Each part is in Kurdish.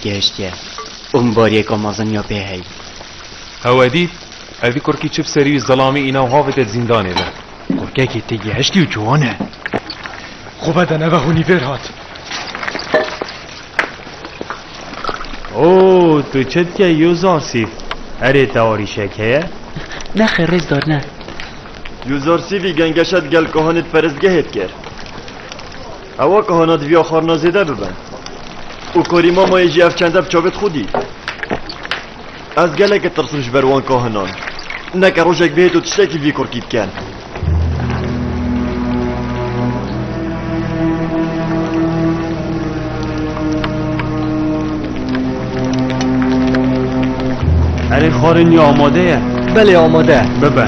Gehiştiye û min bariyeka mezin ya pê heyî. Hewe dît, evî kurkî çi bi serî wî zilamî îna û havê te di zîndanê de. Kurkekî tê gehiştî û ciwan e. Xwe bede neve hûnî vêr hat. O tu çi dike yo zarsîv? Erê te arîşek heye? Nexê rêzdar ne. Yo zarsîvî gengeşe di gel kahanê di perestgehê dikir. Ewa ka hana diviya xarina zêde bibe. Û korî mamayê jî ev çende bi çavê xwedî. Ez gelekê tirsim ji ber wan ka hinan. Neke rojek bihêt û tiştekî vî kurkî bike. Erê xarên ya amade ye. Belê amade. Bibe.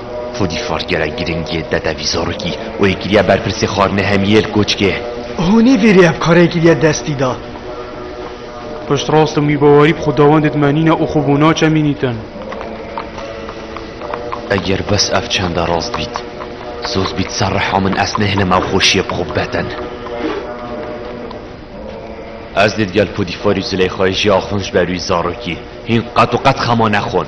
Xwedî far gelek girîng yê dede vî zarokî û yê kiriye berpirsê xwarinê hemî yê li koçkê. Hûnî vî rê ev karê kiriye destî da. Pişt rast im wî bawerî bi xwedawendê dimenîne û xwe bo naçe mînîtin. Eger bes ev çende rast bît, soz bît ser riha min ez nêhilim ew xweşiyê bi xwe bibetin. Ez dê digel Podîfarî û Zileyxayê jî axunj be rûyê zarokî. Hîn qet û qet xema nexwin.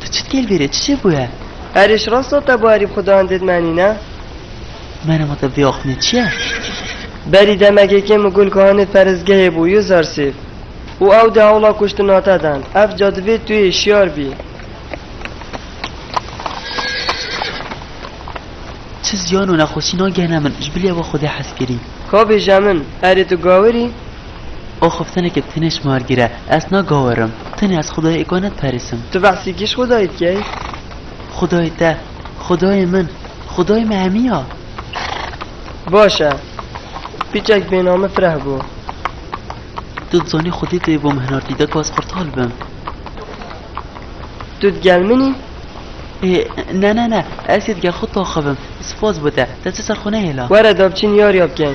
Tu çi dikê li bîrê? Çi jê bûye? Erê ji rasta te bo erî bi Xudayan dê dimenîne? Meryem got, Ev vê axûnê çi ye? Berî demekê kêm û gul Kahanê perestgehê bû yû zersêv û ew dê hewla kuştina te dan. Ev ca divê tu yê şiyar bî. Çi ziyan û nexweşî nagihne min, ji bilî ew a xwe dê hez kirî. Ka bêje min, erê tu gawir î? Axaftineke tenê ji mar gire, ez nagawerim. Tenê ez Xwedayê Eko nediperîsim. Tu behsî kî ji Xwedayê dikey? Xwedayê te. Xwedayê min. Xwedayê me hemî ya. Baş e. Pîçek bêname Fireh bû. Tu dizanî Xwedê tu yê bo min hinartî dek ez qurtal bim. Tu di gel min î? Ê, ne ne ne. Ez yê di gel xwe taxivim. Spas bo te. Te çi ser xwe nehêla. Were da biçin yariya bikin.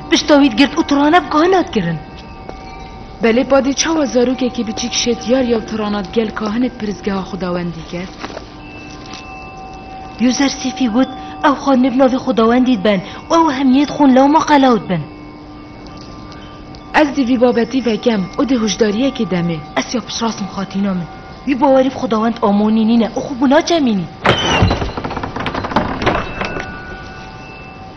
Pişta wî digirt û tirane bi kahin hat kirin. Belê padî çawa zarokekî biçîk şêtiyar yew tirana di gel kahinê di pirsgeha xwedawendî ket? Yuzer Sîfî got, Ew xanî bi navê xwedawendî dibin û ew hemiyê dixwin lewma qelaw dibin. Ez dê vî babetî vekem û dê hojdariyekê demê. Ez ya piştirasim xatîna min. Wî bawerî bi xwedawend Amonî nîne û xwe bû naçemînî.